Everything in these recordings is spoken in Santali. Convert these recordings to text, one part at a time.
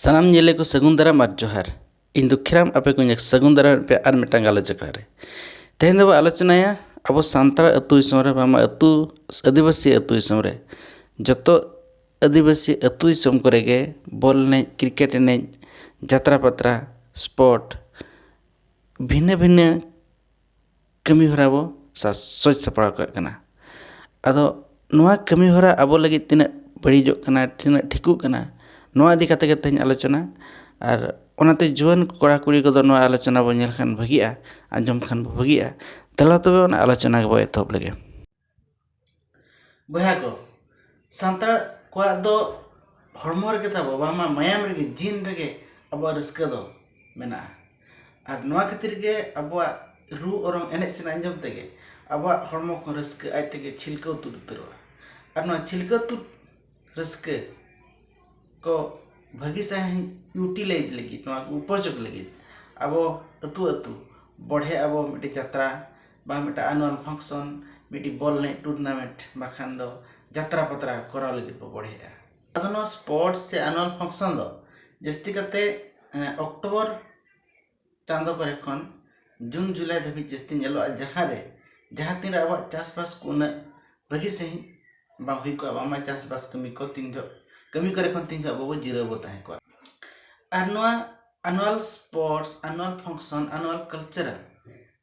ᱥᱟᱱᱟᱢ ᱧᱮᱞᱮ ᱠᱚ ᱥᱟᱹᱜᱩᱱ ᱫᱟᱨᱟᱢ ᱟᱨ ᱡᱚᱦᱟᱨ ᱤᱧ ᱫᱩᱠᱷᱤᱨᱟᱢ ᱟᱯᱮ ᱠᱚᱧ ᱥᱟᱹᱜᱩᱱ ᱫᱟᱨᱟᱢ ᱯᱮ ᱟᱨ ᱢᱤᱫᱴᱟᱝ ᱜᱟᱞᱚᱪ ᱟᱠᱷᱲᱟ ᱨᱮ ᱛᱮᱦᱮᱧ ᱫᱚᱵᱚ ᱟᱞᱳᱪᱚᱱᱟᱭᱟ ᱟᱵᱚ ᱥᱟᱱᱛᱟᱲ ᱟᱹᱛᱩ ᱫᱤᱥᱚᱢ ᱨᱮ ᱵᱟᱝᱢᱟ ᱟᱹᱛᱩ ᱟᱹᱫᱤᱵᱟᱹᱥᱤ ᱟᱹᱛᱩ ᱫᱤᱥᱚᱢ ᱨᱮ ᱡᱚᱛᱚ ᱟᱹᱫᱤᱵᱟᱹᱥᱤ ᱟᱹᱛᱩ ᱫᱤᱥᱚᱢ ᱠᱚᱨᱮ ᱜᱮ ᱵᱚᱞ ᱮᱱᱮᱡ ᱠᱨᱤᱠᱮᱴ ᱮᱱᱮᱡ ᱡᱟᱛᱨᱟ ᱯᱟᱛᱨᱟ ᱥᱯᱳᱨᱴ ᱵᱷᱤᱱᱟᱹ ᱵᱷᱤᱱᱟᱹ ᱠᱟᱹᱢᱤ ᱦᱚᱨᱟ ᱵᱚ ᱥᱟᱡᱽ ᱥᱟᱯᱲᱟᱣ ᱠᱟᱜ ᱠᱟᱱᱟ ᱟᱫᱚ ᱱᱚᱣᱟ ᱠᱟᱹᱢᱤ ᱦᱚᱨᱟ ᱟᱵᱚ ᱞᱟᱹᱜᱤᱫ ᱛᱤᱱᱟᱹᱜ ᱵᱟᱹᱲᱤᱡᱚᱜ ᱠᱟᱱᱟ ᱛᱤᱱᱟᱹᱜ ᱴᱷᱤᱠᱚᱜ ᱠᱟᱱᱟ ᱱᱚᱣᱟ ᱤᱫᱤ ᱠᱟᱛᱮᱫ ᱜᱮ ᱛᱮᱦᱮᱧ ᱟᱞᱳᱪᱚᱱᱟ ᱟᱨ ᱚᱱᱟᱛᱮ ᱡᱩᱣᱟᱹᱱ ᱠᱚᱲᱟ ᱠᱩᱲᱤ ᱠᱚᱫᱚ ᱱᱚᱣᱟ ᱟᱞᱳᱪᱚᱱᱟ ᱵᱚᱱ ᱧᱮᱞ ᱞᱮᱠᱷᱟᱱ ᱵᱷᱟᱹᱜᱤᱜᱼᱟ ᱟᱸᱡᱚᱢ ᱞᱮᱠᱷᱟᱱ ᱵᱷᱟᱹᱜᱤᱜᱼᱟ ᱫᱮᱞᱟ ᱛᱚᱵᱮ ᱚᱱᱟ ᱟᱞᱳᱪᱚᱱᱟ ᱜᱮᱵᱚᱱ ᱮᱛᱚᱦᱚᱵ ᱞᱮᱜᱮ ᱵᱚᱭᱦᱟ ᱠᱚ ᱥᱟᱱᱛᱟᱲ ᱠᱚᱣᱟᱜ ᱫᱚ ᱦᱚᱲᱢᱚ ᱨᱮᱜᱮ ᱛᱟᱵᱚ ᱵᱟᱝᱢᱟ ᱢᱟᱭᱟᱢ ᱨᱮᱜᱮ ᱡᱤᱱ ᱨᱮᱜᱮ ᱟᱵᱚᱣᱟᱜ ᱨᱟᱹᱥᱠᱟᱹ ᱫᱚ ᱢᱮᱱᱟᱜᱼᱟ ᱟᱨ ᱱᱚᱣᱟ ᱠᱷᱟᱹᱛᱤᱨ ᱜᱮ ᱟᱵᱚᱣᱟᱜ ᱨᱩ ᱚᱨᱚᱝ ᱮᱱᱮᱡ ᱥᱮᱨᱮᱧ ᱟᱸᱡᱚᱢ ᱛᱮᱜᱮ ᱟᱵᱚᱣᱟᱜ ᱦᱚᱲᱢᱚ ᱠᱚ ᱨᱟᱹᱥᱠᱟᱹ ᱟᱡ ᱛᱮᱜᱮ ᱪᱷᱤᱞᱠᱟᱹᱣ ᱛᱩᱫ ᱩᱛᱟᱹᱨᱚᱜᱼᱟ ᱟᱨ ᱱᱚᱣᱟ ᱪᱷᱤᱞᱠᱟᱹᱣ ᱛᱩᱫ ᱨᱟᱹᱥᱠᱟᱹ ᱠᱚ ᱵᱷᱟᱹᱜᱤ ᱥᱟᱺᱦᱤᱡ ᱤᱭᱩᱴᱤᱞᱟᱭᱤᱡᱽ ᱞᱟᱹᱜᱤᱫ ᱱᱚᱣᱟ ᱠᱚ ᱩᱯᱚᱡᱳᱜᱽ ᱞᱟᱹᱜᱤᱫ ᱟᱵᱚ ᱟᱹᱛᱩ ᱟᱹᱛᱩ ᱵᱚᱲᱦᱮ ᱟᱵᱚ ᱢᱤᱫᱴᱮᱱ ᱡᱟᱛᱨᱟ ᱵᱟ ᱢᱤᱫᱴᱮᱱ ᱟᱱᱩᱣᱟᱞ ᱯᱷᱟᱝᱥᱚᱱ ᱢᱤᱫᱴᱤᱡ ᱵᱚᱞ ᱮᱱᱮᱡ ᱴᱩᱨᱱᱟᱢᱮᱱᱴ ᱵᱟᱠᱷᱟᱱ ᱫᱚ ᱡᱟᱛᱨᱟ ᱯᱟᱛᱨᱟ ᱠᱚᱨᱟᱣ ᱞᱟᱹᱜᱤᱫ ᱵᱚ ᱵᱚᱲᱦᱮᱜᱼᱟ ᱟᱫᱚ ᱱᱚᱣᱟ ᱥᱯᱳᱨᱴᱥ ᱥᱮ ᱟᱱᱩᱣᱟᱞ ᱯᱷᱟᱝᱥᱚᱱ ᱫᱚ ᱡᱟᱹᱥᱛᱤ ᱠᱟᱛᱮᱫ ᱚᱠᱴᱳᱵᱚᱨ ᱪᱟᱸᱫᱚ ᱠᱚᱨᱮ ᱠᱷᱚᱱ ᱡᱩᱱ ᱡᱩᱞᱟᱭ ᱫᱷᱟᱹᱵᱤᱡ ᱡᱟᱹᱥᱛᱤ ᱧᱮᱞᱚᱜᱼᱟ ᱡᱟᱦᱟᱸ ᱨᱮ ᱡᱟᱦᱟᱸ ᱛᱤᱱ ᱨᱮ ᱟᱵᱚᱣᱟᱜ ᱪᱟᱥᱵᱟᱥ ᱠᱚ ᱩᱱᱟᱹᱜ ᱵᱷᱟᱹᱜᱤ ᱥᱟᱺᱦᱤᱡ ᱵᱟᱝ ᱦᱩᱭ ᱠᱚᱜᱼᱟ ᱵᱟᱝᱢᱟ ᱪᱟᱥᱵᱟᱥ ᱠᱟᱹᱢᱤ ᱠᱚ ᱛᱤᱱ ᱡᱚᱦᱚᱜ ᱠᱟᱹᱢᱤ ᱠᱚᱨᱮ ᱠᱷᱚᱱ ᱛᱤᱱ ᱡᱚᱦᱚᱜ ᱟᱵᱚ ᱵᱚᱱ ᱡᱤᱨᱟᱹᱣ ᱵᱚᱱ ᱛᱟᱦᱮᱸ ᱠᱚᱜᱼᱟ ᱟᱨ ᱱᱚᱣᱟ annual sports annual function annual cultural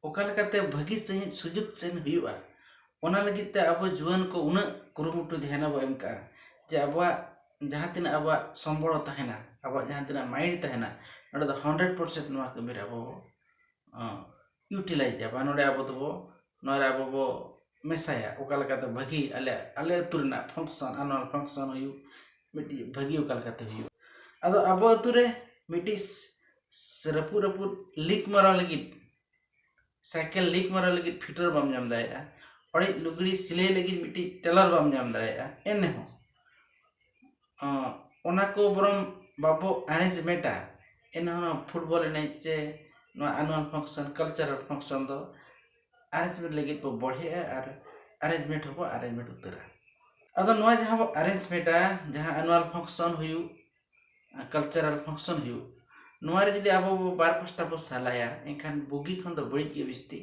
ᱚᱠᱟ ᱞᱮᱠᱟᱛᱮ ᱵᱷᱟᱹᱜᱤ ᱥᱟᱺᱦᱤᱡ ᱥᱩᱡᱩᱫ ᱥᱮᱱ ᱦᱩᱭᱩᱜᱼᱟ ᱚᱱᱟ ᱞᱟᱹᱜᱤᱫ ᱛᱮ ᱟᱵᱚ ᱡᱩᱣᱟᱹᱱ ᱠᱚ ᱩᱱᱟᱹᱜ ᱠᱩᱨᱩᱢᱩᱴᱩ ᱫᱷᱮᱭᱟᱱ ᱵᱚᱱ ᱮᱢ ᱠᱟᱜᱼᱟ ᱡᱮ ᱟᱵᱚᱣᱟᱜ ᱡᱟᱦᱟᱸ ᱛᱤᱱᱟᱹᱜ ᱟᱵᱚᱣᱟᱜ ᱥᱚᱢᱵᱚᱞ ᱛᱟᱦᱮᱱᱟ ᱟᱵᱚᱣᱟᱜ ᱡᱟᱦᱟᱸ ᱛᱤᱱᱟᱹᱜ ᱢᱟᱭᱤᱱᱰ ᱛᱟᱦᱮᱱᱟ ᱱᱚᱰᱮ ᱫᱚ ᱦᱟᱱᱰᱨᱮᱰ ᱯᱟᱨᱥᱮᱱᱴ ᱱᱚᱣᱟ ᱠᱟᱹᱢᱤᱨᱮ ᱟᱵᱚ ᱵᱚ ᱤᱭᱩᱴᱤᱞᱟᱭᱤᱡᱟ ᱵᱟᱝ ᱱᱚᱰᱮ ᱟᱵᱚ ᱫᱚᱵᱚ ᱱᱚᱣᱟᱨᱮ ᱟᱵᱚ ᱵᱚ ᱢᱮᱥᱟᱭᱟ ᱚᱠᱟ ᱞᱮᱠᱟᱛᱮ ᱵᱷᱟᱹᱜᱤ ᱟᱞᱮ ᱟᱞᱮ ᱟᱹᱛᱩ ᱨᱮᱱᱟᱜ ᱯᱷᱟᱝᱥᱚᱱ ᱟᱨ ᱱᱚᱣᱟ ᱯᱷᱟᱝᱥᱚᱱ ᱦᱩᱭᱩᱜ ᱢᱤᱫᱴᱤᱡ ᱵᱷᱟᱹᱜᱤ ᱚᱠᱟ ᱞᱮᱠᱟᱛᱮ ᱦᱩᱭᱩᱜᱼᱟ ᱟᱫᱚ ᱟᱵᱚ ᱟᱹᱛᱩ ᱨᱮ ᱢᱤᱫᱴᱤᱡ ᱨᱟᱹᱯᱩᱫ ᱨᱟᱹᱯᱩᱫ ᱞᱤᱠ ᱢᱟᱨᱟᱣ ᱞᱟᱹᱜᱤᱫ ᱥᱟᱭᱠᱮᱞ ᱞᱤᱠ ᱢᱟᱨᱟᱣ ᱞᱟᱹᱜᱤᱫ ᱯᱷᱤᱴᱟᱨ ᱵᱟᱢ ᱧᱟᱢ ᱫᱟᱲᱮᱭᱟᱜᱼᱟ ᱚᱲᱮᱡ ᱞᱩᱜᱽᱲᱤ ᱥᱤᱞᱟᱹᱭ ᱞᱟᱹᱜᱤᱫ ᱢᱤᱫᱴᱤᱡ ᱴᱮᱞᱟᱨ ᱵᱟᱢ ᱧᱟᱢ ᱫᱟᱲᱮᱭᱟᱜᱼᱟ ᱮᱱᱨᱮᱦᱚᱸ ᱚᱱᱟ ᱠᱚ ᱵᱚᱨᱚᱝ ᱵᱟᱵᱚ ᱮᱨᱮᱧᱡᱽᱢᱮᱱᱴᱟ ᱮᱱᱦᱚᱸ ᱱᱚᱣᱟ ᱯᱷᱩᱴᱵᱚᱞ ᱮᱱᱮᱡ ᱥᱮ ᱱᱚᱣᱟ ᱟᱱᱩᱣᱟᱞ ᱯᱷᱟᱝᱥᱚᱱ ᱠᱟᱞᱪᱟᱨᱟᱞ ᱯᱷᱟᱝᱥᱚᱱ ᱫᱚ ᱮᱨᱮᱧᱡᱽᱢᱮᱱᱴ ᱞᱟᱹᱜᱤᱫ ᱵᱚ ᱵᱚᱲᱦᱮᱜᱼᱟ ᱟᱨ ᱮᱨᱮᱧᱡᱽᱢᱮᱱᱴ ᱦᱚᱸᱵᱚ ᱮᱨᱮᱧᱡᱽᱢᱮᱱᱴ ᱩᱛᱟᱹᱨᱟ ᱟᱫᱚ ᱱᱚᱣᱟ ᱡᱟᱦᱟᱸ ᱵᱚ ᱮᱨᱮᱧᱡᱽᱢᱮᱱᱴᱟ ᱡᱟᱦᱟᱸ ᱟᱱᱩᱣᱟᱞ ᱯᱷᱟᱝᱥᱚᱱ ᱦᱩᱭᱩᱜ ᱠᱟᱞᱪᱟᱨᱟᱞ ᱯᱷᱟᱝᱥᱚᱱ ᱦᱩᱭᱩᱜ ᱱᱚᱣᱟ ᱨᱮ ᱡᱩᱫᱤ ᱟᱵᱚ ᱵᱚ ᱵᱟᱨ ᱯᱟᱥᱴᱟ ᱵᱚ ᱥᱟᱞᱟᱭᱟ ᱮᱱᱠᱷᱟᱱ ᱵᱩᱜᱤ ᱠᱷᱚᱱ ᱫᱚ ᱵᱟᱹᱲᱤᱡ ᱜᱮ ᱵᱤᱥᱛᱤ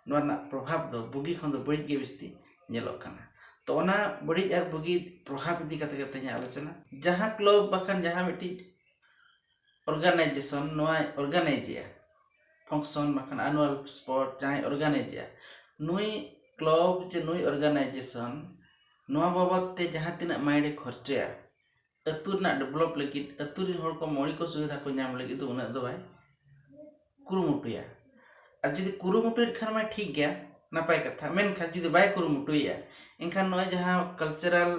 ᱱᱚᱣᱟ ᱨᱮᱱᱟᱜ ᱯᱨᱚᱵᱷᱟᱵᱽ ᱫᱚ ᱵᱩᱜᱤ ᱠᱷᱚᱱ ᱫᱚ ᱵᱟᱹᱲᱤᱡ ᱜᱮ ᱵᱤᱥᱛᱤ ᱧᱮᱞᱚᱜ ᱠᱟᱱᱟ ᱛᱚ ᱚᱱᱟ ᱵᱟᱹᱲᱤᱡ ᱟᱨ ᱵᱩᱜᱤ ᱯᱨᱚᱵᱷᱟᱵᱽ ᱤᱫᱤ ᱠᱟᱛᱮ ᱜᱮ ᱛᱮᱦᱮᱧᱟᱜ ᱟᱞᱳᱪᱚᱱᱟ ᱡᱟᱦᱟᱸ ᱠᱞᱟᱵᱽ ᱵᱟᱠᱷᱟᱱ ᱡᱟᱦᱟᱸ ᱢᱤᱫᱴᱤᱡ ᱚᱨᱜᱟᱱᱟᱭᱡᱮᱥᱚᱱ ᱱᱚᱣᱟ ᱚᱨᱜᱟᱱᱟᱭᱤᱡᱮᱜᱼᱟ ᱯᱷᱟᱝᱥᱚᱱ ᱵᱟᱠᱷᱟᱱ ᱟᱱᱩᱣᱟᱞ ᱥᱯᱚᱨᱴ ᱡᱟᱦᱟᱸᱭ ᱚᱨᱜᱟᱱᱟᱭᱤᱡᱮᱜᱼᱟ ᱱᱩᱭ ᱠᱞᱟᱵᱽ ᱪᱮ ᱱᱩᱭ ᱚᱨᱜᱟᱱᱟᱭᱡᱮᱥᱚᱱ ᱱᱚᱣᱟ ᱵᱟᱵᱚᱫ ᱛᱮ ᱡᱟᱦᱟᱸ ᱛᱤᱱᱟᱹᱜ ᱢᱟᱭᱤᱱᱰᱮ ᱠᱷᱚᱨᱪᱟᱭᱟ ᱟᱹᱛᱩ ᱨᱮᱱᱟᱜ ᱰᱮᱵᱷᱞᱚᱯ ᱞᱟᱹᱜᱤᱫ ᱟᱹᱛᱩ ᱨᱮᱱ ᱦᱚᱲ ᱠᱚ ᱢᱳᱣᱞᱤᱠ ᱥᱩᱵᱤᱫᱷᱟ ᱠᱚ ᱧᱟᱢ ᱞᱟᱹᱜᱤᱫ ᱫᱚ ᱩᱱᱟᱹᱜ ᱫᱚ ᱵᱟᱭ ᱠᱩᱨᱩᱢᱩᱴᱩᱭᱟ ᱟᱨ ᱡᱩᱫᱤ ᱠᱩᱨᱩᱢᱩᱴᱩᱭᱮᱫ ᱠᱷᱟᱱ ᱢᱟᱭ ᱴᱷᱤᱠ ᱜᱮᱭᱟ ᱱᱟᱯᱟᱭ ᱠᱟᱛᱷᱟ ᱢᱮᱱᱠᱷᱟᱱ ᱡᱩᱫᱤ ᱵᱟᱭ ᱠᱩᱨᱩᱢᱩᱴᱩᱭᱮᱫᱼᱟ ᱮᱱᱠᱷᱟᱱ ᱱᱚᱜᱼᱚᱭ ᱡᱟᱦᱟᱸ ᱠᱟᱞᱪᱟᱨᱟᱞ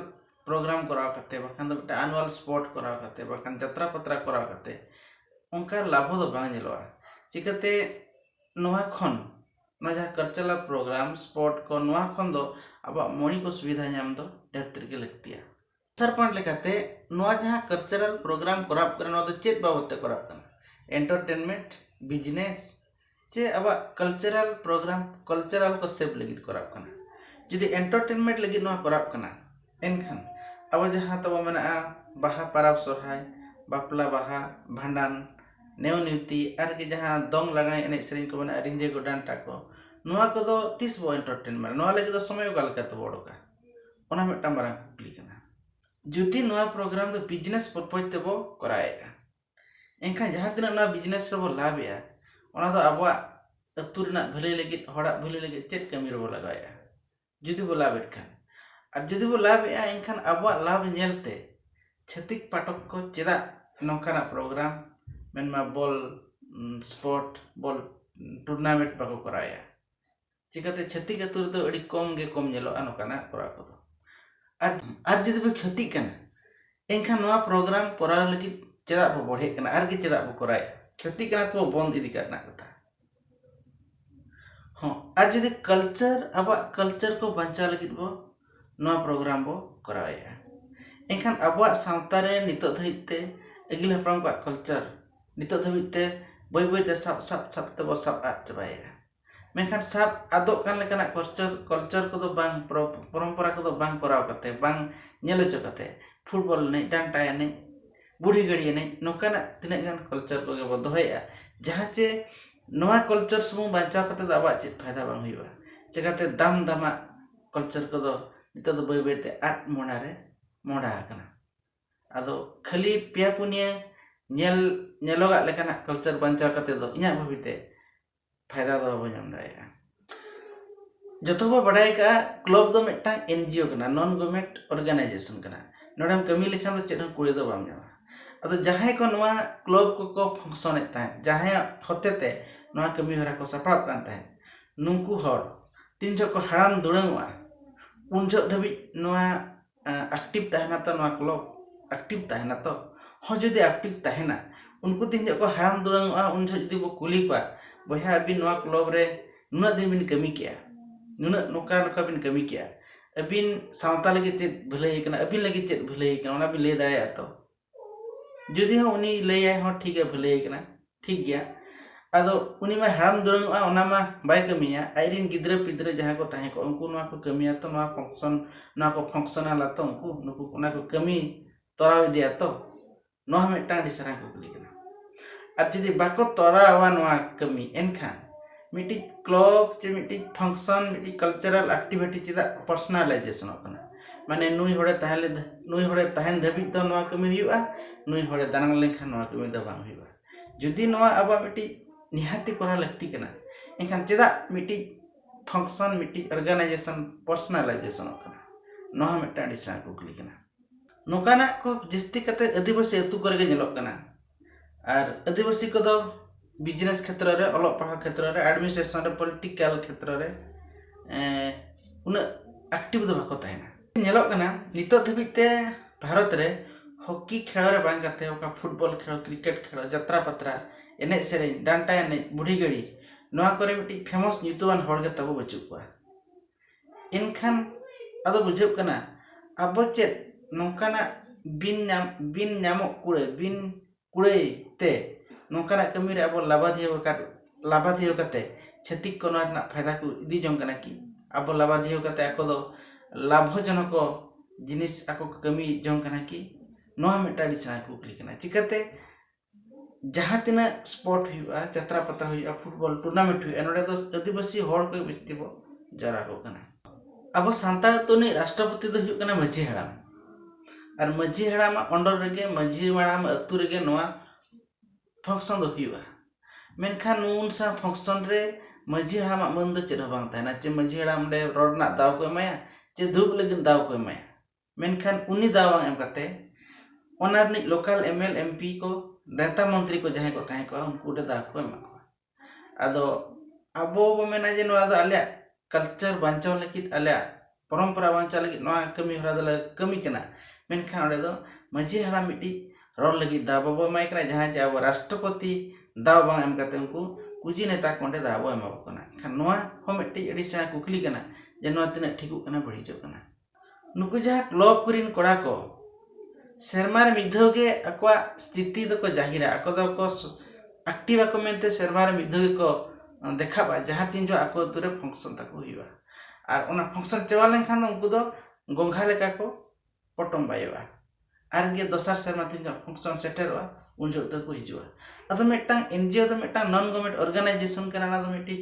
ᱯᱨᱳᱜᱨᱟᱢ ᱠᱚᱨᱟᱣ ᱠᱟᱛᱮᱫ ᱵᱟᱠᱷᱟᱱ ᱫᱚ ᱢᱤᱫᱴᱟᱱ ᱟᱱᱩᱣᱟᱞ ᱥᱯᱳᱨᱴ ᱠᱚᱨᱟᱣ ᱠᱟᱛᱮᱫ ᱵᱟᱠᱷᱟᱱ ᱡᱟᱛᱨᱟ ᱯᱟᱛᱨᱟ ᱠᱚᱨᱟᱣ ᱠᱟᱛᱮᱫ ᱚᱱᱠᱟ ᱞᱟᱵᱷᱚ ᱫᱚ ᱵᱟᱝ ᱧᱮᱞᱚᱜᱼᱟ ᱪᱤᱠᱟᱹᱛᱮ ᱱᱚᱣᱟ ᱠᱷᱚᱱ ᱱᱚᱣᱟ ᱡᱟᱦᱟᱸ ᱠᱟᱞᱪᱟᱨᱟᱞ ᱯᱨᱳᱜᱨᱟᱢ ᱥᱯᱳᱨᱴ ᱠᱚ ᱱᱚᱣᱟ ᱠᱷᱚᱱ ᱫᱚ ᱟᱵᱚᱣᱟᱜ ᱢᱳᱣᱞᱤᱠ ᱥᱩᱵᱤᱫᱷᱟ ᱧᱟᱢ ᱫᱚ ᱰᱷᱮᱨ ᱛᱮᱫ ᱜᱮ ᱞᱟᱹᱠᱛᱤᱭᱟ ᱥᱟᱨᱯᱟᱱᱴ ᱞᱮᱠᱟᱛᱮ ᱱᱚᱣᱟ ᱡᱟᱦᱟᱸ ᱠᱟᱞᱪᱟᱨᱟᱞ ᱯᱨᱳᱜᱨᱟᱢ ᱠᱚᱨᱟᱣ ᱠᱟᱱᱟ ᱱᱚᱣᱟ ᱫᱚ ᱪᱮᱫ ᱵᱟᱵᱚᱫ ᱛᱮ ᱠᱚᱨᱟᱣ ᱠᱟᱱᱟ ᱮᱱᱴᱟᱨᱴᱮᱱᱢᱮᱱᱴ ᱵᱤᱡᱽᱱᱮᱥ ᱪᱮ ᱟᱵᱚᱣᱟᱜ ᱠᱟᱞᱪᱟᱨᱟᱞ ᱯᱨᱳᱜᱨᱟᱢ ᱠᱟᱞᱪᱟᱨᱟᱞ ᱠᱚ ᱥᱮᱵᱷ ᱞᱟᱹᱜᱤᱫ ᱠᱚᱨᱟᱣ ᱠᱟᱱᱟ ᱡᱩᱫᱤ ᱮᱱᱴᱟᱨᱴᱮᱱᱢᱮᱱᱴ ᱞᱟᱹᱜᱤᱫ ᱱᱚᱣᱟ ᱠᱚᱨᱟᱣ ᱠᱟᱱᱟ ᱮᱱᱠᱷᱟᱱ ᱟᱵᱚ ᱡᱟᱦᱟᱸ ᱛᱟᱵᱚ ᱢᱮᱱᱟᱜᱼᱟ ᱵᱟᱦᱟ ᱯᱟᱨᱟᱵᱽ ᱥᱚᱨᱦᱟᱭ ᱵᱟᱯᱞᱟ ᱵᱟᱦᱟ ᱵᱷᱟᱸᱰᱟᱱ ᱱᱮᱣᱱᱤᱛᱤ ᱟᱨ ᱜᱮ ᱡᱟᱦᱟᱸ ᱫᱚᱝ ᱞᱟᱜᱽᱬᱮ ᱮᱱᱮᱡ ᱥᱮᱨᱮᱧ ᱠᱚ ᱢᱮᱱᱟᱜᱼᱟ ᱨᱤᱸᱡᱷᱟᱹ ᱠᱚ ᱰᱟᱱᱴᱟ ᱠᱚ ᱱᱚᱣᱟ ᱠᱚᱫᱚ ᱛᱤᱥ ᱵᱚ ᱮᱱᱴᱟᱨᱴᱮᱱᱢᱮᱱᱴ ᱱᱚᱣᱟ ᱞᱟᱹᱜᱤᱫ ᱫᱚ ᱥᱚᱢᱚᱭ ᱚᱠᱟ ᱞᱮᱠᱟ ᱛᱮᱵᱚ ᱚᱰᱚᱠᱟ ᱚᱱᱟ ᱢᱤᱫᱴᱟᱝ ᱢᱟᱨᱟᱝ ᱠᱩᱠᱞᱤ ᱠᱟᱱᱟ ᱡᱩᱫᱤ ᱱᱚᱣᱟ ᱯᱨᱳᱜᱨᱟᱢ ᱫᱚ ᱵᱤᱡᱽᱱᱮᱥ ᱯᱚᱨᱯᱚᱡᱽ ᱛᱮᱵᱚ ᱠᱚᱨᱟᱣᱮᱫᱼᱟ ᱮᱱᱠᱷᱟᱱ ᱡᱟᱦᱟᱸ ᱛᱤᱱᱟᱹᱜ ᱱᱚᱣᱟ ᱵᱤᱡᱽᱱᱮᱥ ᱨᱮᱵᱚ ᱞᱟᱵᱷᱮᱜᱼᱟ ᱚᱱᱟ ᱫᱚ ᱟᱵᱚᱣᱟᱜ ᱟᱹᱛᱩ ᱨᱮᱱᱟᱜ ᱵᱷᱟᱹᱞᱟᱹᱭ ᱞᱟᱹᱜᱤᱫ ᱦᱚᱲᱟᱜ ᱵᱷᱟᱹᱞᱟᱹᱭ ᱞᱟᱹᱜᱤᱫ ᱪᱮᱫ ᱠᱟᱹᱢᱤ ᱨᱮᱵᱚ ᱞᱟᱜᱟᱣᱮᱫᱼᱟ ᱡᱩᱫᱤ ᱵᱚ ᱞᱟᱵᱷᱮᱫ ᱠᱷᱟᱱ ᱟᱨ ᱡᱩᱫᱤ ᱵᱚ ᱞᱟᱵᱷᱮᱫᱼᱟ ᱮᱱᱠᱷᱟᱱ ᱟᱵᱚᱣᱟᱜ ᱞᱟᱵᱷ ᱧᱮᱞᱛᱮ ᱪᱷᱟᱹᱛᱤᱠ ᱯᱟᱴᱷᱚᱠ ᱠᱚ ᱪᱮᱫᱟᱜ ᱱᱚᱝᱠᱟᱱᱟᱜ ᱯᱨᱳᱜᱨᱟᱢ ᱢᱮᱱᱢᱟ ᱵᱚᱞ ᱥᱯᱳᱨᱴ ᱵᱚᱞ ᱴᱩᱨᱱᱟᱢᱮᱱᱴ ᱵᱟᱠᱚ ᱠᱚᱨᱟᱣᱮᱫᱼᱟ ᱪᱤᱠᱟᱹᱛᱮ ᱪᱷᱟᱹᱛᱤᱠ ᱟᱹᱛᱩ ᱨᱮᱫᱚ ᱟᱹᱰᱤ ᱠᱚᱢ ᱜᱮ ᱠᱚᱢ ᱧᱮᱞᱚᱜᱼᱟ ᱱᱚᱝᱠᱟᱱᱟᱜ ᱠᱚᱨᱟᱣ ᱠᱚᱫᱚ ᱟᱨ ᱟᱨ ᱡᱩᱫᱤ ᱵᱚ ᱠᱷᱚᱛᱤᱜ ᱠᱟᱱᱟ ᱮᱱᱠᱷᱟᱱ ᱱᱚᱣᱟ ᱯᱨᱳᱜᱨᱟᱢ ᱠᱚᱨᱟᱣ ᱞᱟᱹᱜᱤᱫ ᱪᱮᱫᱟᱜ ᱵᱚ ᱵᱚᱲᱦᱮᱜ ᱠᱟᱱᱟ ᱟᱨᱜᱮ ᱪᱮᱫᱟᱜ ᱵᱚ ᱠᱚᱨᱟᱣᱮᱫᱼᱟ ᱠᱷᱚᱛᱤᱜ ᱠᱟᱱᱟ ᱛᱚᱵᱚ ᱵᱚᱱᱫ ᱤᱫᱤ ᱠᱟᱜ ᱨᱮᱱᱟᱜ ᱠᱟᱛᱷᱟ ᱦᱚᱸ ᱟᱨ ᱡᱩᱫᱤ ᱠᱟᱞᱪᱟᱨ ᱟᱵᱚᱣᱟᱜ ᱠᱟᱞᱪᱟᱨ ᱠᱚ ᱵᱟᱧᱪᱟᱣ ᱞᱟᱹᱜᱤᱫ ᱵᱚ ᱱᱚᱣᱟ ᱯᱨᱳᱜᱨᱟᱢ ᱵᱚ ᱠᱚᱨᱟᱣᱮᱫᱼᱟ ᱮᱱᱠᱷᱟᱱ ᱟᱵᱚᱣᱟᱜ ᱥᱟᱶᱛᱟ ᱨᱮ ᱱᱤᱛᱚᱜ ᱫᱷᱟᱹᱵᱤᱡ ᱛᱮ ᱟᱹᱜᱤᱞ ᱦᱟᱯᱲᱟᱢ ᱠᱚᱣᱟᱜ ᱠᱟᱞᱪᱟᱨ ᱱᱤᱛᱚᱜ ᱫᱷᱟᱹᱵᱤᱡ ᱛᱮ ᱵᱟᱹᱭ ᱵᱟᱹᱭᱛᱮ ᱥᱟᱵ ᱥᱟᱵ ᱥᱟᱵ ᱛᱮᱵᱚ ᱥᱟᱵ ᱟᱫ ᱪᱟᱵᱟᱭᱮᱫᱼᱟ ᱢᱮᱱᱠᱷᱟᱱ ᱥᱟᱵ ᱟᱫᱚᱜ ᱠᱟᱱ ᱞᱮᱠᱟᱱᱟᱜ ᱠᱚᱞᱪᱟᱨ ᱠᱚᱞᱪᱟᱨ ᱠᱚᱫᱚ ᱵᱟᱝ ᱯᱚᱨᱚᱢᱯᱚᱨᱟ ᱠᱚᱫᱚ ᱵᱟᱝ ᱠᱚᱨᱟᱣ ᱠᱟᱛᱮ ᱵᱟᱝ ᱧᱮᱞ ᱦᱚᱪᱚ ᱠᱟᱛᱮ ᱯᱷᱩᱴᱵᱚᱞ ᱮᱱᱮᱡ ᱰᱟᱱᱴᱟ ᱮᱱᱮᱡ ᱵᱩᱰᱷᱤ ᱜᱟᱹᱲᱤ ᱮᱱᱮᱡ ᱱᱚᱝᱠᱟᱱᱟᱜ ᱛᱤᱱᱟᱹᱜ ᱜᱟᱱ ᱠᱚᱞᱪᱟᱨ ᱠᱚᱜᱮ ᱵᱚᱱ ᱫᱚᱦᱚᱭᱮᱜᱼᱟ ᱡᱟᱦᱟᱸ ᱪᱮ ᱱᱚᱣᱟ ᱠᱚᱞᱪᱟᱨ ᱥᱩᱢᱩᱝ ᱵᱟᱧᱪᱟᱣ ᱠᱟᱛᱮ ᱫᱚ ᱟᱵᱚᱣᱟᱜ ᱪᱮᱫ ᱯᱷᱟᱭᱫᱟ ᱵᱟᱝ ᱦᱩᱭᱩᱜᱼᱟ ᱪᱤᱠᱟᱹᱛᱮ ᱫᱟᱢ ᱫᱟᱢᱟᱜ ᱠᱚᱞᱪᱟᱨ ᱠᱚᱫᱚ ᱱᱤᱛᱚᱜ ᱫᱚ ᱵᱟᱹᱭ ᱵᱟᱹᱭᱛᱮ ᱟᱫ ᱢᱚᱱᱟ ᱨᱮ ᱢᱚᱦᱰᱟ ᱟᱠᱟᱱᱟ ᱟᱫᱚ ᱠᱷᱟᱹᱞᱤ ᱯᱮᱭᱟ ᱯᱩᱱᱭᱟᱹ ᱧᱮᱞ ᱧᱮᱞᱚᱜᱟᱜ ᱞᱮᱠᱟᱱᱟᱜ ᱠᱚᱞᱪᱟᱨ ᱵᱟᱧᱪᱟᱣ ᱠᱟᱛᱮ ᱫᱚ ᱤᱧᱟᱹᱜ ᱵᱷᱟᱹᱵᱤᱛᱮ ᱯᱷᱟᱭᱫᱟ ᱫᱚ ᱵᱟᱵᱚ ᱧᱟᱢ ᱫᱟᱲᱮᱭᱟᱜᱼᱟ ᱡᱚᱛᱚ ᱵᱚ ᱵᱟᱰᱟᱭ ᱠᱟᱜᱼᱟ ᱠᱞᱚᱵᱽ ᱫᱚ ᱢᱤᱫᱴᱟᱝ ᱮᱱᱡᱤᱭᱳ ᱠᱟᱱᱟ ᱱᱚᱱ ᱜᱚᱵᱷᱢᱮᱱᱴ ᱚᱨᱜᱟᱱᱟᱭᱡᱮᱥᱚᱱ ᱠᱟᱱᱟ ᱱᱚᱰᱮᱢ ᱠᱟᱹᱢᱤ ᱞᱮᱠᱷᱟᱱ ᱫᱚ ᱪᱮᱫ ᱦᱚᱸ ᱠᱩᱲᱟᱹᱭ ᱫᱚ ᱵᱟᱢ ᱧᱟᱢᱟ ᱟᱫᱚ ᱡᱟᱦᱟᱸᱭ ᱠᱚ ᱱᱚᱣᱟ ᱠᱞᱚᱵᱽ ᱠᱚᱠᱚ ᱯᱷᱚᱝᱥᱚᱱᱮᱫ ᱛᱟᱦᱮᱸᱫ ᱡᱟᱦᱟᱸᱭᱟᱜ ᱦᱚᱛᱮᱛᱮ ᱱᱚᱣᱟ ᱠᱟᱹᱢᱤ ᱦᱚᱨᱟ ᱠᱚ ᱥᱟᱯᱲᱟᱣ ᱠᱟᱱ ᱛᱟᱦᱮᱸᱫ ᱱᱩᱠᱩ ᱦᱚᱲ ᱛᱤᱱ ᱡᱚᱦᱚᱜ ᱠᱚ ᱦᱟᱲᱟᱢ ᱫᱩᱲᱟᱹᱝᱚᱜᱼᱟ ᱩᱱ ᱡᱚᱦᱚᱜ ᱫᱷᱟᱹᱵᱤᱡ ᱱᱚᱣᱟ ᱮᱠᱴᱤᱵᱷ ᱛᱟᱦᱮᱱᱟ ᱛᱚ ᱱᱚᱣᱟ ᱠᱞᱚᱵᱽ ᱮᱠᱴᱤᱵᱷ ᱛᱟᱦᱮᱱᱟ ᱛᱚ ᱦᱚᱸ ᱡᱩᱫᱤ ᱮᱠᱴᱤᱵᱷ ᱛᱟᱦᱮᱱᱟ ᱩᱱᱠᱩ ᱛᱤᱱ ᱡᱚᱦᱚᱜ ᱠᱚ ᱦᱟᱲᱟᱢ ᱫᱩᱲᱩᱝᱚᱜᱼᱟ ᱩᱱ ᱡᱚᱦᱚᱜ ᱡᱩᱫᱤ ᱵᱚᱱ ᱠᱩᱞᱤ ᱠᱚᱣᱟ ᱵᱚᱭᱦᱟ ᱟᱹᱵᱤᱱ ᱱᱚᱣᱟ ᱠᱞᱚᱵᱽ ᱨᱮ ᱱᱩᱱᱟᱹᱜ ᱫᱤᱱ ᱵᱤᱱ ᱠᱟᱹᱢᱤ ᱠᱮᱜᱼᱟ ᱱᱩᱱᱟᱹᱜ ᱱᱚᱝᱠᱟ ᱱᱚᱝᱠᱟ ᱵᱤᱱ ᱠᱟᱹᱢᱤ ᱠᱮᱜᱼᱟ ᱟᱹᱵᱤᱱ ᱥᱟᱶᱛᱟ ᱞᱟᱹᱜᱤᱫ ᱪᱮᱫ ᱵᱷᱟᱹᱞᱟᱹᱭ ᱠᱟᱱᱟ ᱟᱹᱵᱤᱱ ᱞᱟᱹᱜᱤᱫ ᱪᱮᱫ ᱵᱷᱟᱹᱞᱟᱹᱭ ᱠᱟᱱᱟ ᱚᱱᱟ ᱵᱤᱱ ᱞᱟᱹᱭ ᱫᱟᱲᱮᱭᱟᱜᱼᱟ ᱛᱚ ᱡᱩᱫᱤ ᱦᱚᱸ ᱩᱱᱤ ᱞᱟᱹᱭᱟᱭ ᱦᱚᱸ ᱴᱷᱤᱠ ᱜᱮᱭᱟ ᱵᱷᱟᱹᱞᱟᱹᱭ ᱠᱟᱱᱟ ᱴᱷᱤᱠ ᱜᱮᱭᱟ ᱟᱫᱚ ᱩᱱᱤ ᱢᱟ ᱦᱟᱲᱟᱢ ᱫᱩᱲᱩᱢᱚᱜᱼᱟ ᱚᱱᱟ ᱢᱟ ᱵᱟᱭ ᱠᱟᱹᱢᱤᱭᱟ ᱟᱡ ᱨᱮᱱ ᱜᱤᱫᱽᱨᱟᱹ ᱯᱤᱫᱽᱨᱟᱹ ᱡᱟᱦᱟᱸᱭ ᱠᱚ ᱛᱟᱦᱮᱸ ᱠᱚᱜ ᱩᱱᱠᱩ ᱱᱚᱣᱟ ᱠᱚ ᱠᱟᱹᱢᱤᱭᱟ ᱛᱚ ᱱᱚᱣᱟ ᱯᱷᱚᱝᱥᱚᱱ ᱱᱚᱣᱟ ᱠᱚ ᱯᱷᱚᱝᱥᱚᱱᱟᱞ ᱟᱛᱚ ᱩᱱᱠᱩ ᱱᱩᱠᱩ ᱚᱱᱟ ᱠᱚ ᱠᱟᱹᱢᱤ ᱛᱚᱨᱟᱣ ᱤᱫᱤᱭᱟ ᱛᱚ ᱱᱚᱣᱟ ᱦᱚᱸ ᱢᱤᱫᱴᱟᱝ ᱟᱹᱰᱤ ᱥᱮᱬᱟ ᱠᱩᱠᱞᱤ ᱠᱟᱱᱟ ᱟᱨ ᱡᱩᱫᱤ ᱵᱟᱠᱚ ᱛᱚᱨᱟᱣᱟ ᱱᱚᱣᱟ ᱠᱟᱹᱢᱤ ᱮᱱᱠᱷᱟᱱ ᱢᱤᱫᱴᱤᱡ ᱠᱞᱚᱵᱽ ᱪᱮ ᱢᱤᱫᱴᱤᱡ ᱯᱷᱟᱝᱥᱚᱱ ᱢᱤᱫᱴᱤᱡ ᱠᱟᱞᱪᱟᱨᱟᱞ ᱮᱠᱴᱤᱵᱷᱤᱴᱤ ᱪᱮᱫᱟᱜ ᱯᱟᱨᱥᱚᱱᱟᱞᱟᱭᱡᱮᱥᱚᱱᱚᱜ ᱠᱟᱱᱟ ᱢᱟᱱᱮ ᱱᱩᱭ ᱦᱚᱲᱮ ᱛᱟᱦᱮᱸ ᱞᱮᱱ ᱱᱩᱭ ᱦᱚᱲᱮ ᱛᱟᱦᱮᱱ ᱫᱷᱟᱹᱵᱤᱡ ᱫᱚ ᱱᱚᱣᱟ ᱠᱟᱹᱢᱤ ᱦᱩᱭᱩᱜᱼᱟ ᱱᱩᱭ ᱦᱚᱲᱮ ᱫᱟᱱᱟᱝ ᱞᱮᱱᱠᱷᱟᱱ ᱱᱚᱣᱟ ᱠᱟᱹᱢᱤ ᱫᱚ ᱵᱟᱝ ᱦᱩᱭᱩᱜᱼᱟ ᱡᱩᱫᱤ ᱱᱚᱣᱟ ᱟᱵᱚᱣᱟᱜ ᱢᱤᱫᱴᱤᱡ ᱱᱤᱦᱟᱹᱛᱤ ᱠᱚᱨᱟᱣ ᱞᱟᱹᱠᱛᱤ ᱠᱟᱱᱟ ᱮᱱᱠᱷᱟᱱ ᱪᱮᱫᱟᱜ ᱢᱤᱫᱴᱤᱡ ᱯᱷᱟᱝᱥᱚᱱ ᱢᱤᱫᱴᱤᱡ ᱚᱨᱜᱟᱱᱟᱭᱡᱮᱥᱚᱱ ᱯᱟᱨᱥᱚᱱᱟᱞᱟᱭᱡᱮᱥᱚᱱᱚᱜ ᱠᱟᱱᱟ ᱱᱚᱣᱟ ᱦᱚᱸ ᱢᱤᱫᱴᱟᱝ ᱟᱹᱰᱤ ᱥᱮᱬᱟ ᱠᱩᱠᱞᱤ ᱠᱟᱱᱟ ᱱᱚᱝᱠᱟᱱᱟᱜ ᱠᱚ ᱡᱟᱹᱥᱛᱤ ᱠᱟᱛᱮᱫ ᱟᱹᱫᱤᱵᱟᱹᱥᱤ ᱟᱹᱛᱩ ᱠᱚᱨᱮ ᱜᱮ ᱧᱮᱞᱚᱜ ᱠᱟᱱᱟ ᱟᱨ ᱟᱹᱫᱤᱵᱟᱹᱥᱤ ᱠᱚᱫᱚ ᱵᱤᱡᱽᱱᱮᱥ ᱠᱷᱮᱛᱨᱚ ᱨᱮ ᱚᱞᱚᱜ ᱯᱟᱲᱦᱟᱣ ᱠᱷᱮᱛᱨᱚ ᱨᱮ ᱮᱰᱢᱤᱱᱤᱥᱴᱨᱮᱥᱚᱱ ᱨᱮ ᱯᱚᱞᱤᱴᱤᱠᱟᱞ ᱠᱷᱮᱛᱨᱚ ᱨᱮ ᱩᱱᱟᱹᱜ ᱮᱠᱴᱤᱵᱷ ᱫᱚ ᱵᱟᱠᱚ ᱛᱟᱦᱮᱱᱟ ᱧᱮᱞᱚᱜ ᱠᱟᱱᱟ ᱱᱤᱛᱚᱜ ᱫᱷᱟᱹᱵᱤᱡ ᱛᱮ ᱵᱷᱟᱨᱚᱛ ᱨᱮ ᱦᱚᱠᱤ ᱠᱷᱮᱞ ᱨᱮ ᱵᱟᱝ ᱠᱟᱛᱮ ᱚᱠᱟ ᱯᱷᱩᱴᱵᱚᱞ ᱠᱷᱮᱞ ᱠᱨᱤᱠᱮᱴ ᱠᱷᱮᱞ ᱡᱟᱛᱨᱟ ᱯᱟᱛᱨᱟ ᱮᱱᱮᱡ ᱥᱮᱨᱮᱧ ᱰᱟᱱᱴᱟ ᱮᱱᱮᱡ ᱵᱩᱰᱷᱤ ᱜᱟᱹᱲᱤ ᱱᱚᱣᱟ ᱠᱚᱨᱮ ᱢᱤᱫᱴᱤᱡ ᱯᱷᱮᱢᱚᱥ ᱧᱩᱛᱩᱢᱟᱱ ᱦᱚᱲ ᱜᱮ ᱛᱟᱵᱚ ᱵᱟᱹᱪᱩᱜ ᱠᱚᱣᱟ ᱮᱱᱠᱷᱟᱱ ᱟᱫᱚ ᱵᱩᱡᱷᱟᱹᱜ ᱠᱟᱱᱟ ᱟᱵᱚ ᱪᱮᱫ ᱱᱚᱝᱠᱟᱱᱟᱜ ᱵᱤᱱ ᱧᱟᱢ ᱵᱤᱱ ᱧᱟᱢᱚᱜ ᱠᱩᱲᱟᱹᱭ ᱵᱤᱱ ᱠᱩᱲᱟᱹᱭ ᱛᱮ ᱱᱚᱝᱠᱟᱱᱟᱜ ᱠᱟᱹᱢᱤ ᱨᱮ ᱟᱵᱚ ᱞᱟᱵᱟᱫᱷᱤᱭᱟᱹ ᱟᱠᱟᱫ ᱞᱟᱵᱟᱫᱷᱤᱭᱟᱹ ᱠᱟᱛᱮ ᱪᱷᱟᱹᱛᱤᱠ ᱠᱚ ᱱᱚᱣᱟ ᱨᱮᱱᱟᱜ ᱯᱷᱟᱭᱫᱟ ᱠᱚ ᱤᱫᱤ ᱡᱚᱝ ᱠᱟᱱᱟ ᱠᱤ ᱟᱵᱚ ᱞᱟᱵᱟᱫᱷᱤᱭᱟᱹ ᱠᱟᱛᱮ ᱟᱠᱚ ᱫᱚ ᱞᱟᱵᱷᱚ ᱡᱚᱱᱚᱠᱚ ᱡᱤᱱᱤᱥ ᱟᱠᱚ ᱠᱚ ᱠᱟᱹᱢᱤ ᱡᱚᱝ ᱠᱟᱱᱟ ᱠᱤ ᱱᱚᱣᱟ ᱢᱤᱫᱴᱟᱝ ᱟᱹᱰᱤ ᱥᱮᱬᱟ ᱠᱩᱠᱞᱤ ᱠᱟᱱᱟ ᱪᱤᱠᱟᱹᱛᱮ ᱡᱟᱦᱟᱸ ᱛᱤᱱᱟᱹᱜ ᱥᱯᱳᱨᱴ ᱦᱩᱭᱩᱜᱼᱟ ᱡᱟᱛᱨᱟ ᱯᱟᱛᱟ ᱦᱩᱭᱩᱜᱼᱟ ᱯᱷᱩᱴᱵᱚᱞ ᱴᱩᱨᱱᱟᱢᱮᱱᱴ ᱦᱩᱭᱩᱜᱼᱟ ᱱᱚᱰᱮ ᱫᱚ ᱟᱹᱫᱤᱵᱟᱹᱥᱤ ᱦᱚᱲ ᱠᱚ ᱵᱮᱥᱤ ᱵᱚᱱ ᱡᱟᱣᱨᱟ ᱠᱚᱜ ᱠᱟᱱᱟ ᱟᱵᱚ ᱥᱟᱱᱛᱟᱲ ᱟᱹᱛᱩ ᱨᱤᱱᱤᱡ ᱨᱟᱥᱴᱨᱚᱯᱚᱛᱤ ᱫᱚᱭ ᱦᱩᱭᱩᱜ ᱠᱟᱱᱟ ᱢᱟᱹᱡᱷᱤ ᱦᱟᱲᱟᱢ ᱟᱨ ᱢᱟᱹᱡᱷᱤ ᱦᱟᱲᱟᱢᱟᱜ ᱚᱱᱰᱚᱨ ᱨᱮᱜᱮ ᱢᱟᱹᱡᱷᱤ ᱦᱟᱲᱟᱢ ᱟᱹᱛᱩ ᱨᱮᱜᱮ ᱱᱚᱣᱟ ᱯᱷᱚᱝᱥᱚᱱ ᱫᱚ ᱦᱩᱭᱩᱜᱼᱟ ᱢᱮᱱᱠᱷᱟᱱ ᱱᱩᱱ ᱥᱟᱨ ᱯᱷᱚᱝᱥᱚᱱ ᱨᱮ ᱢᱟᱹᱡᱷᱤ ᱦᱟᱲᱟᱢᱟᱜ ᱢᱟᱹᱱ ᱫᱚ ᱪᱮᱫ ᱦᱚᱸ ᱵᱟᱝ ᱛᱟᱦᱮᱱᱟ ᱪᱮ ᱢᱟᱹᱡᱷᱤ ᱦᱟᱲᱟᱢ ᱚᱸᱰᱮ ᱨᱚᱲ ᱨᱮᱱᱟᱜ ᱫᱟᱣ ᱠᱚ ᱮᱢᱟᱭᱟ ᱪᱮ ᱫᱩᱲᱩᱵ ᱞᱟᱹᱜᱤᱫ ᱫᱟᱣ ᱠᱚ ᱮᱢᱟᱭᱟ ᱢᱮᱱᱠᱷᱟᱱ ᱩᱱᱤ ᱫᱟᱣ ᱵᱟᱝ ᱮᱢ ᱠᱟᱛᱮ ᱚᱱᱟ ᱨᱤᱱᱤᱡ local M L A M P ᱠᱚ ᱱᱮᱛᱟ ᱢᱚᱱᱛᱨᱤ ᱠᱚ ᱡᱟᱦᱟᱸᱭ ᱠᱚ ᱛᱟᱦᱮᱸ ᱠᱚᱜᱼᱟ ᱩᱱᱠᱩ ᱚᱸᱰᱮ ᱫᱟᱣ ᱠᱚ ᱮᱢᱟᱫ ᱠᱚᱣᱟ ᱟᱫᱚ ᱟᱵᱚ ᱵᱚ ᱢᱮᱱᱟ ᱡᱮ ᱱᱚᱣᱟ ᱫᱚ ᱟᱞᱮᱭᱟᱜ ᱠᱟᱞᱪᱟᱨ ᱵᱟᱧᱪᱟᱣ ᱞᱟᱹᱜᱤᱫ ᱟᱞᱮᱭᱟᱜ ᱯᱚᱨᱚᱢᱯᱚᱨᱟ ᱵᱟᱧᱪᱟᱣ ᱞᱟᱹᱜᱤᱫ ᱱᱚᱣᱟ ᱠᱟᱹᱢᱤ ᱦᱚᱨᱟ ᱫᱚᱞᱮ ᱠᱟᱹᱢᱤ ᱠᱟᱱᱟ ᱢᱮᱱᱠᱷᱟᱱ ᱚᱸᱰᱮ ᱫᱚ ᱢᱟᱺᱡᱷᱤ ᱦᱟᱲᱟᱢ ᱢᱤᱫᱴᱤᱡ ᱨᱚᱲ ᱞᱟᱹᱜᱤᱫ ᱫᱟᱣ ᱵᱟᱵᱚ ᱮᱢᱟᱭ ᱠᱟᱱᱟ ᱡᱟᱦᱟᱸᱭ ᱡᱮ ᱟᱵᱚ ᱨᱟᱥᱴᱨᱚᱯᱚᱛᱤ ᱫᱟᱣ ᱵᱟᱝ ᱮᱢ ᱠᱟᱛᱮ ᱩᱱᱠᱩ ᱠᱩᱡᱤ ᱱᱮᱛᱟ ᱠᱚ ᱚᱸᱰᱮ ᱫᱟᱣ ᱵᱚ ᱮᱢᱟ ᱠᱚ ᱠᱟᱱᱟ ᱮᱱᱠᱷᱟᱱ ᱱᱚᱣᱟ ᱦᱚᱸ ᱢᱤᱫᱴᱤᱡ ᱟᱹᱰᱤ ᱥᱮᱬᱟ ᱠᱩᱠᱞᱤ ᱠᱟᱱᱟ ᱡᱮ ᱱᱚᱣᱟ ᱛᱤᱱᱟᱹᱜ ᱴᱷᱤᱠᱚᱜ ᱠᱟᱱᱟ ᱵᱟᱹᱲᱤᱡᱚᱜ ᱠᱟᱱᱟ ᱱᱩᱠᱩ ᱡᱟᱦᱟᱸ ᱠᱞᱚᱵᱽ ᱠᱚᱨᱮᱱ ᱠᱚᱲᱟ ᱠᱚ ᱥᱮᱨᱢᱟ ᱨᱮ ᱢᱤᱫ ᱫᱷᱟᱣ ᱜᱮ ᱟᱠᱚᱣᱟᱜ ᱥᱛᱷᱤᱛᱤ ᱫᱚᱠᱚ ᱡᱟᱹᱦᱤᱨᱟ ᱟᱠᱚ ᱫᱚᱠᱚ ᱮᱠᱴᱤᱵᱷ ᱟᱠᱚ ᱢᱮᱱᱛᱮ ᱥᱮᱨᱢᱟ ᱨᱮ ᱢᱤᱫ ᱫᱷᱟᱣ ᱜᱮᱠᱚ ᱫᱮᱠᱷᱟᱜᱼᱟ ᱡᱟᱦᱟᱸ ᱛᱤᱱ ᱡᱚᱦᱚᱜ ᱟᱠᱚ ᱟᱛᱳ ᱨᱮ ᱯᱷᱚᱝᱥᱚᱱ ᱛᱟᱠᱚ ᱦᱩᱭᱩᱜᱼᱟ ᱟᱨ ᱚᱱᱟ ᱯᱷᱚᱝᱥᱚᱱ ᱪᱟᱵᱟ ᱞᱮᱱᱠᱷᱟᱱ ᱫᱚ ᱩᱱᱠᱩ ᱫᱚ ᱜᱚᱝᱜᱷᱟ ᱞᱮᱠᱟ ᱠᱚ ᱯᱚᱴᱚᱢ ᱵᱟᱭᱚᱜᱼᱟ ᱟᱨ ᱜᱮ ᱫᱚᱥᱟᱨ ᱥᱮᱨᱢᱟ ᱛᱮ ᱤᱧᱟᱹᱜ ᱯᱷᱚᱝᱥᱚᱱ ᱥᱮᱴᱮᱨᱚᱜᱼᱟ ᱩᱱ ᱡᱚᱦᱚᱜ ᱛᱮᱠᱚ ᱦᱤᱡᱩᱜᱼᱟ ᱟᱫᱚ ᱢᱤᱫᱴᱟᱝ ᱮᱱᱡᱤᱭᱳ ᱫᱚ ᱢᱤᱫᱴᱟᱝ ᱱᱚᱱ ᱜᱚᱵᱷᱚᱨᱢᱮᱱᱴ ᱚᱨᱜᱟᱱᱟᱭᱡᱮᱥᱚᱱ ᱠᱟᱱᱟ ᱚᱱᱟ ᱫᱚ ᱢᱤᱫᱴᱤᱡ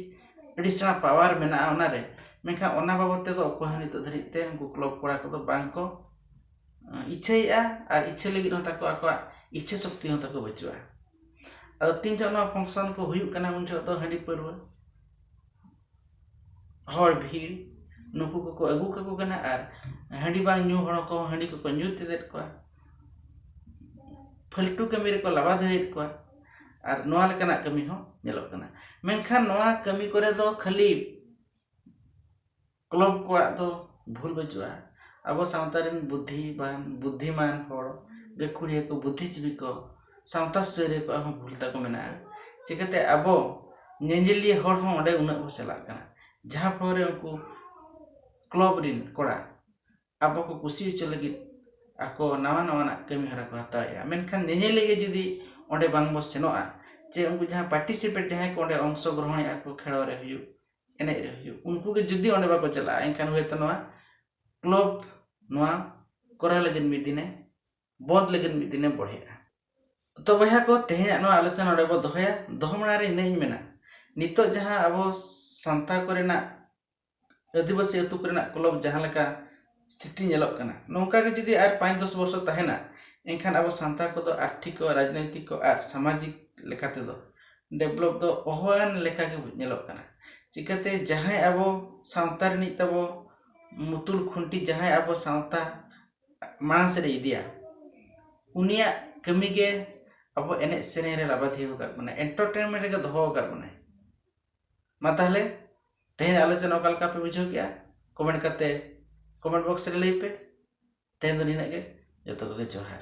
ᱟᱹᱰᱤ ᱥᱮᱬᱟ ᱯᱟᱣᱟᱨ ᱢᱮᱱᱟᱜᱼᱟ ᱚᱱᱟ ᱨᱮ ᱢᱮᱱᱠᱷᱟᱱ ᱚᱱᱟ ᱵᱟᱵᱚᱫ ᱛᱮᱫᱚ ᱚᱠᱚᱭ ᱦᱚᱸ ᱱᱤᱛᱚᱜ ᱫᱷᱟᱹᱨᱤᱡ ᱛᱮ ᱩᱱᱠᱩ ᱠᱞᱚᱵᱽ ᱠᱚᱲᱟ ᱠᱚᱫᱚ ᱵᱟᱝ ᱠᱚ ᱤᱪᱪᱷᱟᱹᱭᱮᱫᱼᱟ ᱟᱨ ᱤᱪᱪᱷᱟᱹ ᱞᱟᱹᱜᱤᱫ ᱦᱚᱸ ᱛᱟᱠᱚ ᱟᱠᱚᱣᱟᱜ ᱤᱪᱪᱷᱟᱹ ᱥᱚᱠᱛᱤ ᱦᱚᱸ ᱛᱟᱠᱚ ᱵᱟᱹᱪᱩᱜᱼᱟ ᱟᱫᱚ ᱛᱤᱱ ᱡᱚᱦᱚᱜ ᱱᱚᱣᱟ ᱯᱷᱚᱝᱥᱚᱱ ᱠᱚ ᱦᱩᱭᱩᱜ ᱠᱟᱱᱟ ᱩᱱ ᱡᱚᱦᱚᱜ ᱫᱚ ᱦᱟᱺᱰᱤ ᱯᱟᱹᱣᱨᱟᱹ ᱦᱚᱲ ᱵᱷᱤᱲ ᱱᱩᱠᱩ ᱠᱚᱠᱚ ᱟᱹᱜᱩ ᱠᱟᱠᱚ ᱠᱟᱱᱟ ᱟᱨ ᱦᱟᱺᱰᱤ ᱵᱟᱝ ᱧᱩ ᱦᱚᱲ ᱠᱚ ᱦᱟᱺᱰᱤ ᱠᱚᱠᱚ ᱧᱩ ᱛᱮᱫᱮᱫ ᱠᱚᱣᱟ ᱯᱷᱟᱹᱞᱴᱩ ᱠᱟᱹᱢᱤ ᱨᱮᱠᱚ ᱞᱟᱵᱟᱫᱷᱟᱹᱭᱮᱫ ᱠᱚᱣᱟ ᱟᱨ ᱱᱚᱣᱟ ᱞᱮᱠᱟᱱᱟᱜ ᱠᱟᱹᱢᱤ ᱦᱚᱸ ᱧᱮᱞᱚᱜ ᱠᱟᱱᱟ ᱢᱮᱱᱠᱷᱟᱱ ᱱᱚᱣᱟ ᱠᱟᱹᱢᱤ ᱠᱚᱨᱮ ᱫᱚ ᱠᱷᱟᱹᱞᱤ ᱠᱞᱚᱵᱽ ᱠᱚᱣᱟᱜ ᱫᱚ ᱵᱷᱩᱞ ᱵᱟᱹᱪᱩᱜᱼᱟ ᱟᱵᱚ ᱥᱟᱶᱛᱟ ᱨᱮᱱ ᱵᱩᱫᱷᱤᱢᱟᱱ ᱵᱩᱫᱷᱤᱢᱟᱱ ᱦᱚᱲ ᱜᱟᱹᱠᱷᱩᱲᱤᱭᱟᱹ ᱠᱚ ᱵᱩᱫᱷᱤᱡᱤᱵᱤ ᱠᱚ ᱥᱟᱶᱛᱟ ᱥᱩᱥᱟᱹᱨᱤᱭᱟᱹ ᱠᱚᱣᱟᱜ ᱦᱚᱸ ᱵᱷᱩᱞ ᱛᱟᱠᱚ ᱢᱮᱱᱟᱜᱼᱟ ᱪᱤᱠᱟᱹᱛᱮ ᱟᱵᱚ ᱧᱮᱧᱮᱞᱤᱭᱟᱹ ᱦᱚᱲ ᱦᱚᱸ ᱚᱸᱰᱮ ᱩᱱᱟᱹᱜ ᱵᱚᱱ ᱪᱟᱞᱟᱜ ᱠᱟᱱᱟ ᱡᱟᱦᱟᱸ ᱯᱷᱳᱲᱳ ᱨᱮ ᱩᱱᱠᱩ ᱠᱞᱚᱵᱽ ᱨᱮᱱ ᱠᱚᱲᱟ ᱟᱵᱚ ᱠᱚ ᱠᱩᱥᱤ ᱦᱚᱪᱚ ᱞᱟᱹᱜᱤᱫ ᱟᱠᱚ ᱱᱟᱣᱟ ᱱᱟᱣᱟᱱᱟᱜ ᱠᱟᱹᱢᱤ ᱦᱚᱨᱟ ᱠᱚ ᱦᱟᱛᱟᱣᱮᱜᱼᱟ ᱢᱮᱱᱠᱷᱟᱱ ᱧᱮᱧᱮᱞᱤᱭᱟᱹ ᱜᱮ ᱡᱩᱫᱤ ᱚᱸᱰᱮ ᱵᱟᱝ ᱵᱚᱱ ᱥᱮᱱᱚᱜᱼᱟ ᱪᱮ ᱩᱱᱠᱩ ᱡᱟᱦᱟᱸ ᱯᱟᱨᱴᱤᱥᱤᱯᱮᱴ ᱡᱟᱦᱟᱸᱭ ᱠᱚ ᱚᱸᱰᱮ ᱚᱝᱥᱚ ᱜᱨᱚᱦᱚᱱᱮᱜᱼᱟ ᱠᱚ ᱠᱷᱮᱞᱳᱰ ᱨᱮ ᱦᱩᱭᱩᱜ ᱮᱱᱮᱡ ᱨᱮ ᱦᱩᱭᱩᱜ ᱩᱱᱠᱩ ᱜᱮ ᱡᱩᱫᱤ ᱚᱸᱰᱮ ᱵᱟᱠᱚ ᱪᱟᱞᱟᱜᱼᱟ ᱮᱱᱠᱷᱟᱱ ᱦᱳᱭᱛᱳ ᱱᱚᱣᱟ ᱠᱞᱚᱵᱽ ᱱᱚᱣᱟ ᱠᱚᱨᱟᱣ ᱞᱟᱹᱜᱤᱫ ᱢᱤᱫ ᱫᱤᱱᱮ ᱵᱚᱸᱫᱽ ᱞᱟᱹᱜᱤᱫ ᱢᱤᱫ ᱫᱤᱱᱮ ᱵᱚᱲᱦᱮᱜᱼᱟ ᱛᱚ ᱵᱚᱭᱦᱟ ᱠᱚ ᱛᱮᱦᱮᱧᱟᱜ ᱱᱚᱣᱟ ᱟᱞᱳᱪᱚᱱᱟ ᱱᱚᱰᱮ ᱵᱚ ᱫᱚᱦᱚᱭᱟ ᱫᱚᱦᱚ ᱢᱟᱲᱟᱝ ᱨᱮ ᱤᱱᱟᱹᱧ ᱢᱮᱱᱟ ᱱᱤᱛᱚᱜ ᱡᱟᱦᱟᱸ ᱟᱵᱚ ᱥᱟᱱᱛᱟᱲ ᱠᱚᱨᱮᱱᱟᱜ ᱟᱹᱫᱤᱵᱟᱹᱥᱤ ᱟᱹᱛᱩ ᱠᱚᱨᱮᱱᱟᱜ ᱠᱞᱚᱵᱽ ᱡᱟᱦᱟᱸ ᱞᱮᱠᱟ ᱥᱛᱷᱤᱛᱤ ᱧᱮᱞᱚᱜ ᱠᱟᱱᱟ ᱱᱚᱝᱠᱟ ᱜᱮ ᱡᱩᱫᱤ ᱟᱨ ᱯᱟᱸᱪ ᱫᱚᱥ ᱵᱚᱨᱥᱚ ᱛᱟᱦᱮᱱᱟ ᱮᱱᱠᱷᱟᱱ ᱟᱵᱚ ᱥᱟᱱᱛᱟᱲ ᱠᱚᱫᱚ ᱟᱨᱛᱷᱤᱠ ᱠᱚ ᱨᱟᱡᱽᱱᱳᱭᱛᱤᱠ ᱠᱚ ᱟᱨ ᱥᱟᱢᱟᱡᱤᱠ ᱞᱮᱠᱟ ᱛᱮᱫᱚ ᱰᱮᱵᱷᱞᱚᱯ ᱫᱚ ᱚᱦᱚᱣᱟᱱ ᱞᱮᱠᱟ ᱜᱮ ᱧᱮᱞᱚᱜ ᱠᱟᱱᱟ ᱪᱤᱠᱟᱹᱛᱮ ᱡᱟᱦᱟᱸᱭ ᱟᱵᱚ ᱥᱟᱶᱛᱟ ᱨᱤᱱᱤᱡ ᱛᱟᱵᱚ ᱢᱩᱛᱩᱞ ᱠᱷᱩᱱᱴᱤ ᱡᱟᱦᱟᱸᱭ ᱟᱵᱚ ᱥᱟᱶᱛᱟ ᱢᱟᱲᱟᱝ ᱥᱮᱫ ᱮ ᱤᱫᱤᱭᱟ ᱩᱱᱤᱭᱟᱜ ᱠᱟᱹᱢᱤ ᱜᱮ ᱟᱵᱚ ᱮᱱᱮᱡ ᱥᱮᱨᱮᱧ ᱨᱮ ᱞᱟᱵᱟᱫᱷᱤ ᱟᱠᱟᱫ ᱵᱚᱱᱟᱭ ᱮᱱᱴᱚᱨᱴᱮᱱᱢᱮᱱᱴ ᱨᱮᱜᱮ ᱫᱚᱦᱚ ᱟᱠᱟᱫ ᱵᱚᱱᱟᱭ ᱢᱟ ᱛᱟᱦᱚᱞᱮ ᱛᱮᱦᱮᱧ ᱟᱞᱳᱪᱚᱱᱟ ᱚᱠᱟ ᱞᱮᱠᱟ ᱯᱮ ᱵᱩᱡᱷᱟᱹᱣ ᱠᱮᱜᱼᱟ ᱠᱚᱢᱮᱱᱴ ᱠᱟᱛᱮ ᱠᱚᱢᱮᱱᱴ ᱵᱚᱠᱥ ᱨᱮ ᱞᱟᱹᱭ ᱯᱮ ᱛᱮᱦᱮᱧ ᱫᱚ ᱱᱤᱱᱟᱹᱜ ᱜᱮ ᱡᱚᱛᱚ ᱠᱚᱜᱮ ᱡᱚᱦᱟᱨ